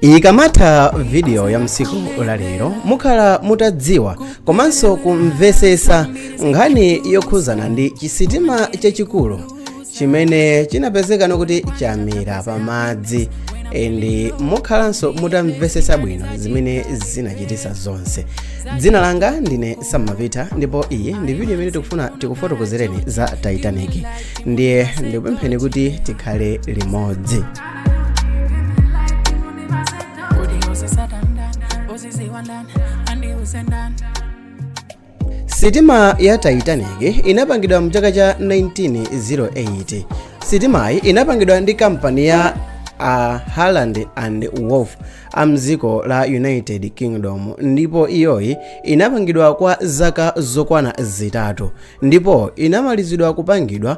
ikamatha vidiyo ya msiku la lero mukhala mutadziwa komanso kumvetsetsa nkhani yokhudzana ndi chisitima chachikulu chimene chinapezeka no kuti chamira pamadzi and mukhalanso mutamvetsetsa bwino zimene zinachitisa zonse dzina langa ndine sam mapita ndipo iyi ndi vidiyo imene tikufuna tikufotokozereni za titanic ndiye ndikupempheni kuti tikhale limodzi sitima ya titanic inapangidwa mu chaka cha 1908 sitimayi inapangidwa ndi kampani ya a harland and wolff a mdziko la united kingdom ndipo iyoyi inapangidwa kwa zaka zokwana zitatu ndipo inamalizidwa kupangidwa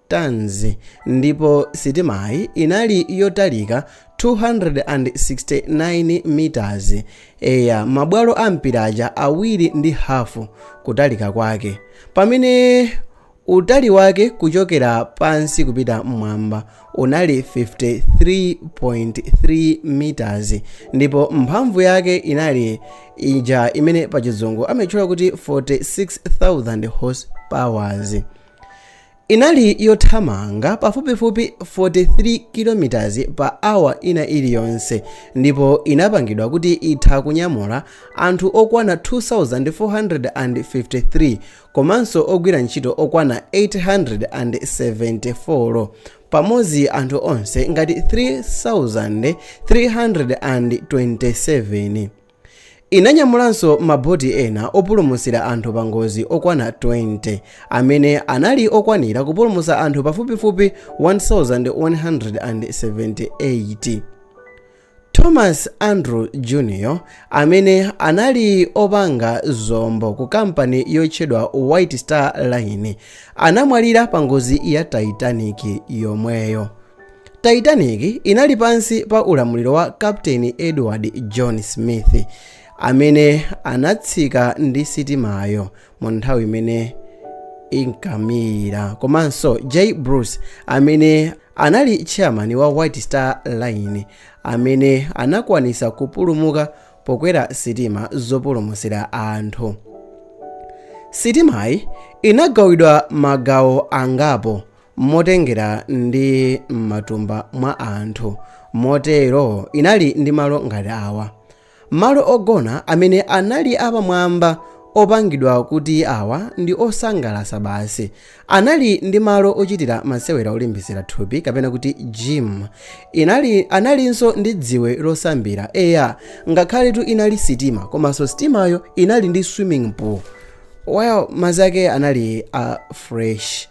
tons ndipo sitimayi inali yotalika 269 meters eya mabwalo a mpira aja awiri ndi hafu kutalika kwake pamene utali wake kuchokera pansi kupita mmwamba unali 53.3 meters ndipo mphamvu yake inali ija imene pachizungu amatchula kuti 46,000 horsepowers Inali yothamanga pafupifupi 43 km pa awa ina iliyonse ndipo inapangidwa kuti itha kunyamula anthu okwana 2,453 komanso ogwira ntchito okwana 874 pamodzi anthu onse ngati 3,327. Inanyamulanso maboti ena opulumutsira anthu pangozi okwana 20, amene anali okwanira kupulumutsa anthu pafupifupi 1,178. Thomas Andrew Jr. amene anali opanga zombo ku kampani yotchedwa White Star Line, anamwalira pangozi ya Titanic yomweyo. titanic inali pansi pa ulamuliro wa captain edward john smith amene anatsika ndi sitimayo mu nthawi imene inkamira komanso j bruce amene anali chairman wa white star line amene anakwanitsa kupulumuka pokwera sitima zopulumutsira anthu sitimayi inagawidwa magawo angapo motengera ndi m'matumba mwa anthu motero inali ndi malo ngati awa malo ogona amene anali apamwamba opangidwa kuti awa ndi osangalatsa basi anali ndi malo ochitira masewera olimbitsira thupi kapena kuti gym inali analinso ndi dziwe losambira eya ngakhaletu inali sitima komanso sitimayo inali ndi swimming pool well madzi ake anali a fresh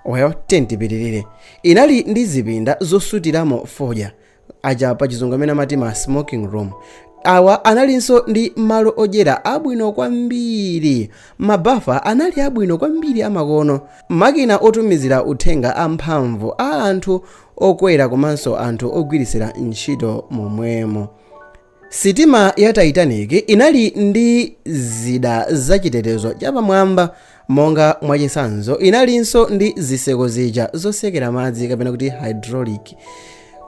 Well, tiye tipitirire. Inali ndi zipinda zosutiramo fodya, aja pa chizungu amene amati ma smoking room. Awa analinso ndi malo odyera abwino kwambiri. Mabafa anali abwino kwambiri amakono. Makina otumizira uthenga amphamvu a anthu okwera komanso anthu ogwiritsira ntchito momwemo. Sitima ya Titanic inali ndi zida zachitetezo chapamwamba, monga mwachitsanzo, inalinso ndi zitseko zija zotsekera madzi kapena kuti hydraulic.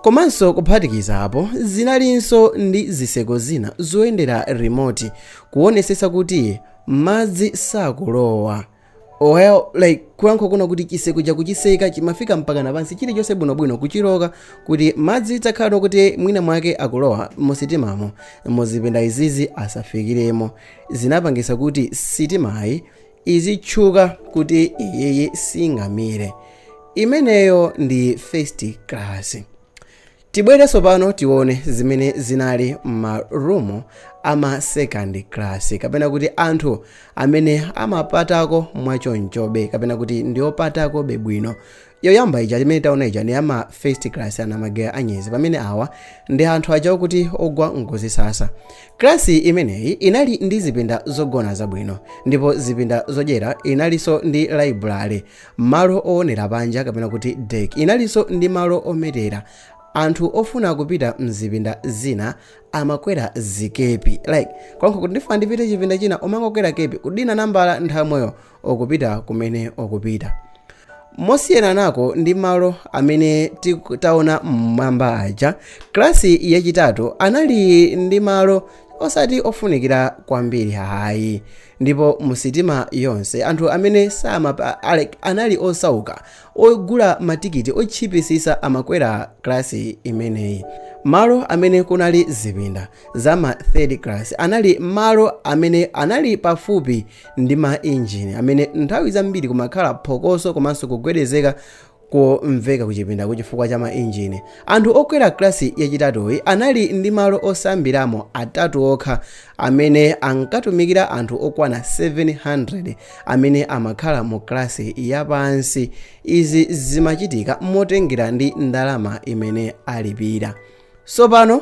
Komanso kuphatikizapo, zinalinso ndi zitseko zina zoyendera remote kuonetsetsa kuti madzi sakulowa. oya like kulankhula kwina kuti chiseko chakuchiseka chimafika mpakana pansi chilichonse bwinobwino kuchiloka kuti madzi atakhala kuti mwina mwake akulowa musitimamo muzipinda izizi asafikiremo zinapangisa kuti sitimayi idzitchuka kuti iyiyi singamire imeneyo ndi first class tibwere sopano tione zimene zinali m'marumu ama second class kapena kuti anthu amene amapatako mwachonchobe kapena kuti ndiopatakobe bwino yoyamba ija imene taona ija ndi ama first class ana magera anyezi pamene awa ndi anthu aja okuti ogwa ngozi sasa klasi imeneyi inali ndi zipinda zogona zabwino ndipo zipinda zodyera inalinso ndi library Malo oonera panja kapena kuti deck inalinso ndi malo ometera. Anthu ofuna kupita mzipinda zina amakwera zikepi. Like, konkho kuti ndifuna ndipite chipinda china umangokwera chikepi, kudina nambala nthawi yomweyo ukupita kumene ukupita. Mosiyananako ndi malo amene taona mmwamba aja, klasi yachitatu anali ndi malo osati ofunikira kwambiri ayi. ndipo mu sitima yonse anthu amene samapa like anali osauka ogula matikiti otchipisisa amakwera klasi imeneyi malo amene kunali zipinda za ma third class anali malo amene anali pafupi ndi ma injini amene nthawi zambiri kumakhala phokoso komanso kugwedezeka komveka kuchipindako chifukwa cha mainjini. Anthu okwera kalasi yachitatuyi anali ndi malo osambiramo atatu okha amene ankatumikira anthu okwana 700 amene amakhala mu kalasi yapansi. Izi zimachitika motengera ndi ndalama imene alipira. Tsopano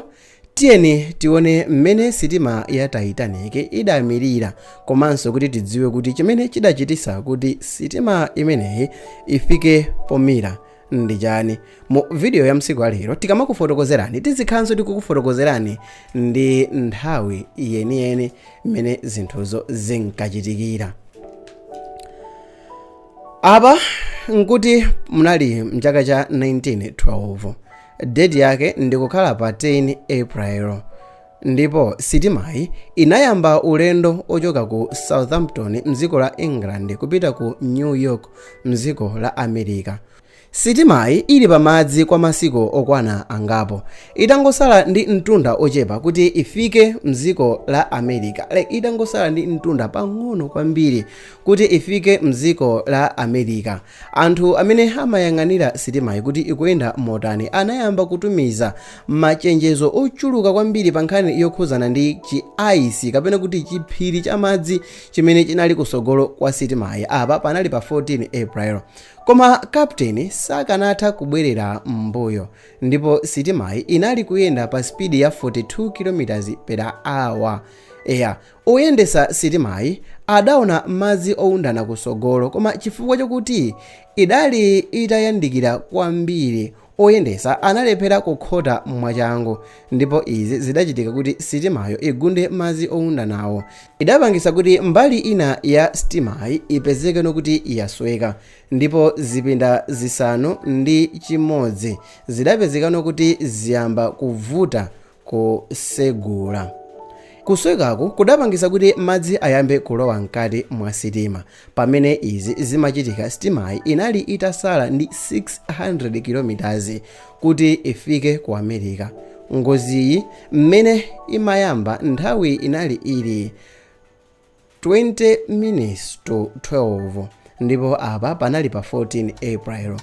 Tiyeni tione mmene sitima ya Titanic idamirira komanso kuti tidziwe kuti chimene chidachititsa kuti sitima imeneyi ifike pomira ndi chani. Mu video ya msiku alero tikamakufotokozerani tizikhalanso tikukufotokozerani ndi nthawi yeniyeni mmene zinthuzo zinkachitikira. Apa nkuti munali mchaka cha 1912. Deti yake ndi kukhala pa 10 April ndipo sitimayi inayamba ulendo ochoka ku Southampton mdziko la England kupita ku New York mdziko la America. Sitimayi ili pa madzi kwa masiku okwana angapo. Itangosala ndi mtunda ochepa kuti ifike mdziko la America, like itangosala ndi mtunda pang'ono kwambiri kuti ifike mdziko la America, Anthu amene amayang'anira sitimayi kuti ikuyenda motani anayamba kutumiza machenjezo ochuluka kwambiri pa nkhani yokhudzana ndi chi ice kapena kuti chiphiri cha madzi chimene chinali kusogolo kwa sitimayi. Apa panali pa 14 April. Koma Captain sakanatha kubwerera m'mbuyo ndipo sitimayi inali kuyenda pa speed ya 42 kilometers per hour. Eya, Oyendesa sitimayi adaona madzi owundana kusogolo koma chifukwa chokuti idali itayandikira kwambiri oyendesa analephera kukhota mwachangu ndipo izi zidachitika kuti sitimayo igunde madzi owundanawo idapangitsa kuti mbali ina ya sitimayi ipezekeno kuti yasweka ndipo zipinda zisanu ndi chimodzi zidapezekano kuti ziyamba kuvuta kusegula. Kuswekaku kudapangisa kuti madzi ayambe kulowa mkati mwa sitima. Pamene izi zimachitika sitimayi inali itasala ndi 600 kilomitazi kuti ifike ku America. Ngoziyi mmene imayamba nthawi inali ili 20 minutes to 12 ndipo apa panali pa 14 april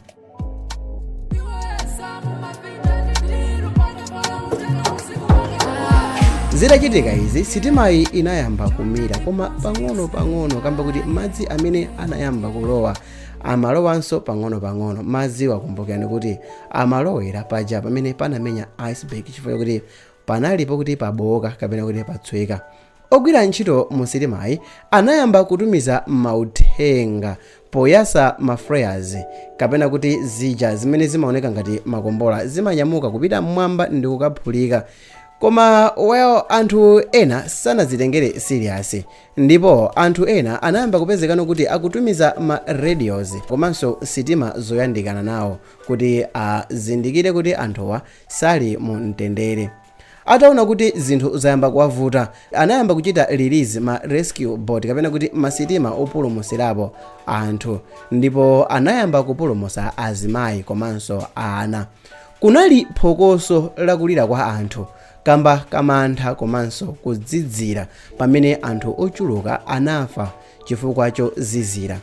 zitachitika izi sitimayi inayamba kumira koma pang'ono pang'ono kamba kuti madzi amene anayamba kulowa amalowanso pang'ono pang'ono madziwa kumbukirani kuti amalowera paja pamene panamenya iceberg chifukwa chakuti panalipo kuti pabowoka kapena kuti patsweka Ogwira ntchito mu sitimayi anayamba kutumiza mauthenga poyasa ma flares kapena kuti zija zimene zimaoneka ngati makombola zimanyamuka kupita mmwamba ndi kukaphulika koma well anthu ena sanazitengere serious ndipo anthu ena anayamba kupezekano kuti akutumiza ma radios komanso sitima zoyandikana nawo kuti azindikire kuti anthuwa sali mu mtendere Ataona kuti zinthu zayamba kuwavuta, anayamba kuchita release ma rescue boat kapena kuti ma sitima opulumusirapo anthu ndipo anayamba kupulumusa azimayi komanso ana. Kunali phokoso la kulira kwa anthu kamba ka mantha komanso kuzizira pamene anthu ochuluka anafa chifukwa chozizira.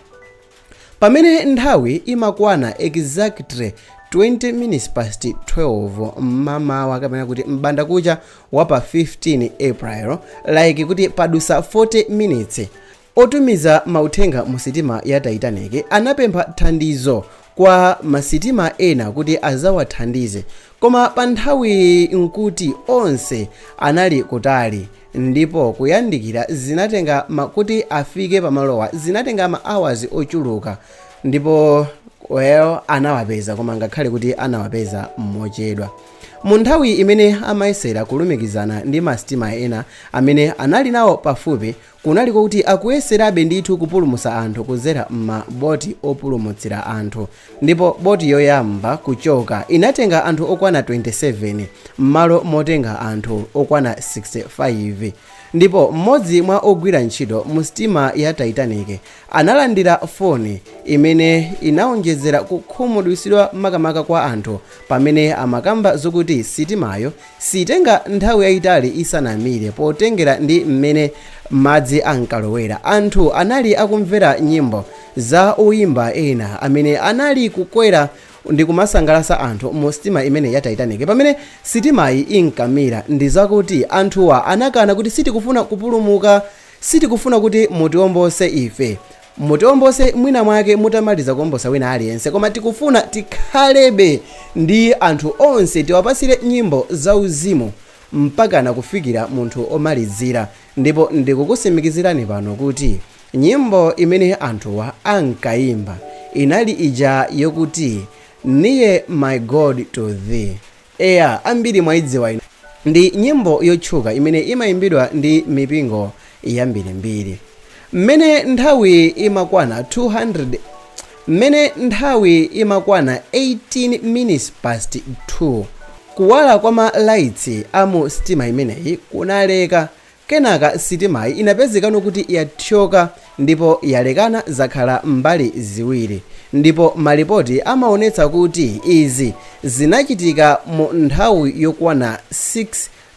Pamene nthawi imakwana exactly 20 minutes past 12 mmamawa kapena kuti m'bandakucha wa pa 15 April like kuti padusa 40 minutes otumiza mauthenga mu sitima ya Titanic anapempha thandizo kwa ma sitima ena kuti adzawathandize Koma pa nthawiyi n'kuti onse anali kutali, ndipo kuyandikira zinatenga ma, kuti afike pamalowa zinatenga ma hours ochuluka, ndipo well anawapeza koma ngakhale kuti anawapeza mochedwa. Mu nthawi imene amayesera kulumikizana ndi ma sitima ena amene anali nawo pafupi kunali kwakuti akuyeserabe ndithu kupulumutsa anthu kudzera m'ma boti opulumutsira anthu ndipo boti yoyamba kuchoka inatenga anthu okwana 27 m'malo motenga anthu okwana 65 ndipo m'modzi mwa ogwira ntchito mu sitima ya Titanic analandira foni imene inaonjezera kukhumudwitsidwa makamaka kwa anthu pamene amakamba zokuti sitimayo Siitenga nthawi yaitali isanamire potengera ndi mmene madzi ankalowera. Anthu anali akumvera nyimbo za oimba ena amene anali kukwera ndi kumasangalatsa anthu mu sitima imeneyi ya Titanic. Pamene sitimayi inkamira, ndi zakuti anthuwa anakana kuti sitikufuna kupulumuka, sitikufuna kuti mutiombose ife. Mutiombose mwina mwake mutamaliza kuombosa wina aliyense koma tikufuna tikhalebe ndi anthu onse tiwapasire nyimbo za uzimu mpakana kufikira munthu omalizira ndipo ndikukusimikizirani pano kuti nyimbo imene anthuwa ankayimba inali ija yokuti Nearer my God to thee Eya, ambiri mwaidziwa ino. Ndi nyimbo yotchuka imene imaimbidwa ndi mipingo yambirimbiri. Mmene nthawi imakwana 200 Mmene nthawi imakwana 18 minutes past 2, kuwala kwa ma lights a mu sitima imeneyi kunaleka. Kenaka sitimayi inapezekano kuti yathyoka ndipo yalekana zakhala mbali ziwiri ndipo malipoti amaonetsa kuti izi zinachitika mu nthawi yokwana 6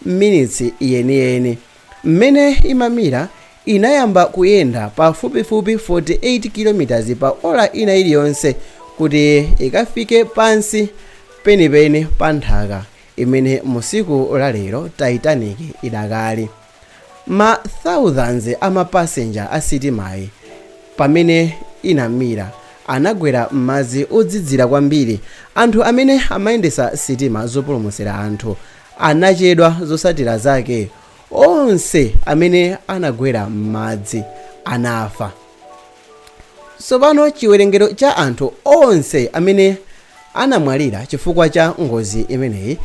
minutes yeniyeni. Mmene imamira inayamba kuyenda pafupifupi 48 kilometers pa ola ina iliyonse kuti ikafike pansi penipeni pa nthaka imene musiku la lero titanic idakali ma thousands ama passenger a sitimayi pamene inamira anagwera m'madzi odzidzira kwambiri anthu amene amayendesa sitima zopulumutsira anthu anachedwa zosatira zake onse amene anagwera m'madzi anafa Tsopano chiwerengero cha anthu onse amene anamwalira chifukwa cha ngozi imeneyi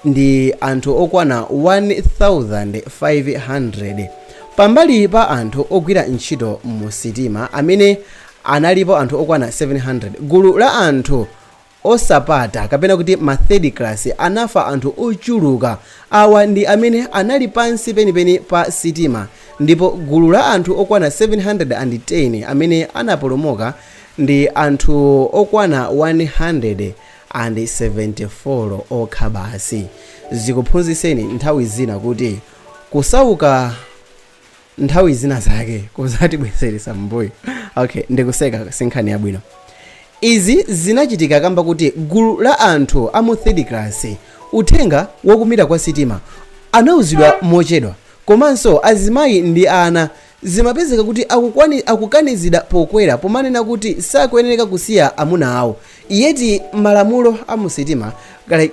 ndi anthu okwana 1,500. Pambali pa anthu ogwira ntchito mu sitima amene analipo anthu okwana 700, gulu la anthu osapata kapena kuti ma third class anafa anthu ochuluka awa ndi amene anali pansi penipeni pa sitima ndipo gulu la anthu okwana 710 amene anapulumuka ndi anthu okwana 174 okha basi zikuphunzitseni nthawi zina kuti kusauka nthawi zina zake kuzatibweseresa mbuyo okay ndikuseka sinkhani yabwino izi zinachitika kamba kuti gulu la anthu a mu third class uthenga wakumira kwa sitima anauzidwa mochedwa komanso azimayi ndi ana zimapezeka kuti akukanizidwa pokwera pomanena kuti sakuyenereka kusiya amuna awo Yet malamulo amusitima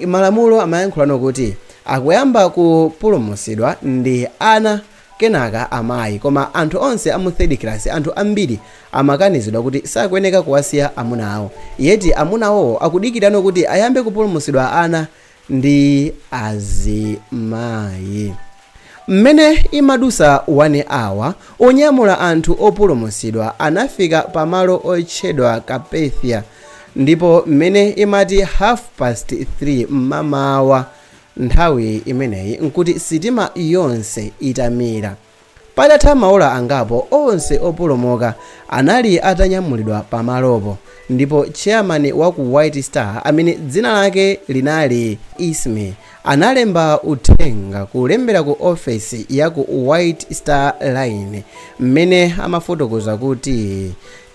malamulo amayankhulano kuti akuyamba kupulumusidwa ndi ana kenaka amayi koma anthu onse amu third class anthu ambiri amakanizidwa kuti sakuyeneka kuwasiya amuna awo yet amunawowo akudikirano kuti ayambe kupulumusidwa ana ndi azimayi mmene imadusa 1 hour onyamula anthu opulumusidwa anafika pa malo otchedwa Carpathia ndipo mmene imati half past 3 mmamawa nthawi imeneyi nkuti sitima yonse itamira. Patatha maola angapo, onse opulumuka anali atanyamulidwa pamalopo, ndipo chairman wa ku White Star, amene dzina lake linali Ismay, analemba uthenga kulembera ku ofesi ya ku White Star Line mmene amafotokoza kuti,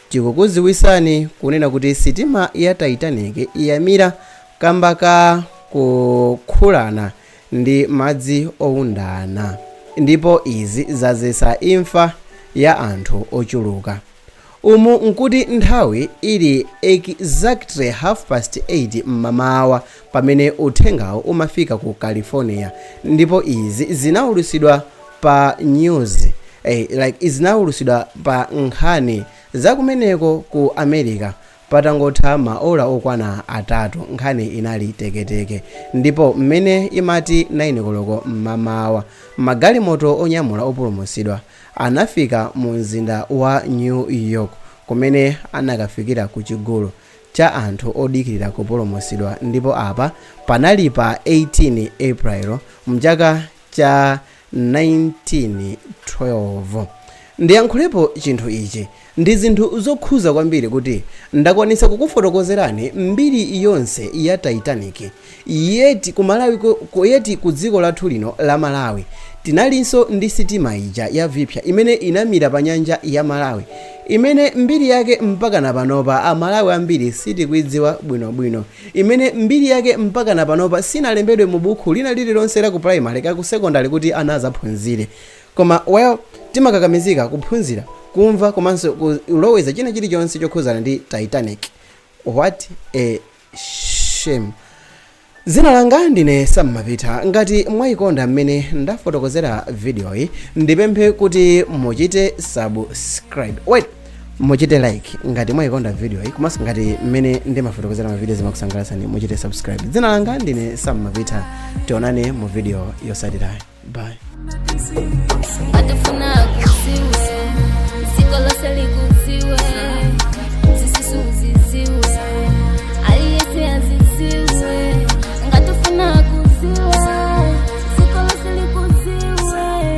Tikukuziwisani kunena kuti sitima ya Titanic yamira kamba ka kukhulana. ndi madzi owundana, ndipo izi zadzetsa imfa ya anthu ochuluka. Umu nkuti nthawi ili exactly half past 8 m'mamawa pamene uthengawo umafika ku California, ndipo izi zinaulutsidwa pa news, eh, like zinawulutsidwa pa nkhani za kumeneko ku America Patangotha maola okwana atatu nkhani inali teketeke ndipo mmene imati 9 koloko mmamawa, magalimoto onyamula opulumutsidwa anafika mu mzinda wa New York kumene anakafikira ku chigulu cha anthu odikirira kupulumutsidwa ndipo apa panali pa 18 April mchaka cha 1912. Ndiyankhulepo chinthu ichi, ndi zinthu zokhuza kwambiri kuti ndakwanisa kukufotokozerani mbiri yonse ya Titanic, yet ku Malawi ku, yet ku dziko lathu lino la Malawi tinalinso ndi sitima ija ya Viphya imene inamira pa nyanja ya Malawi imene mbiri yake mpakana panopa a Malawi ambiri sitikuidziwa bwinobwino, imene mbiri yake mpakana panopa sinalembedwe mu bukhu lina lililonse la ku primary kaya ku secondary kuti ana azaphunzire koma well timakakamizika kuphunzira kumva komanso kuloweza china chilichonse chokhuzana ndi titanic what a shame dzina langa ndine Sam Mapita ngati mwayikonda mmene ndafotokozera vidiyoyi ndipemphe kuti muchite subscribe wait muchite like ngati mwayikonda video iyi komanso ngati mmene ndimafotokozera ma video zimakusangalatsani muchite subscribe dzina langa ndine sam mapita tionane mu video yotsatirayi bye ngatafuna akuziwe ziko lose likuziwe zisusu uziziwe aliyese aziziwe ngatafuna akuziwe ziko lose likuziwe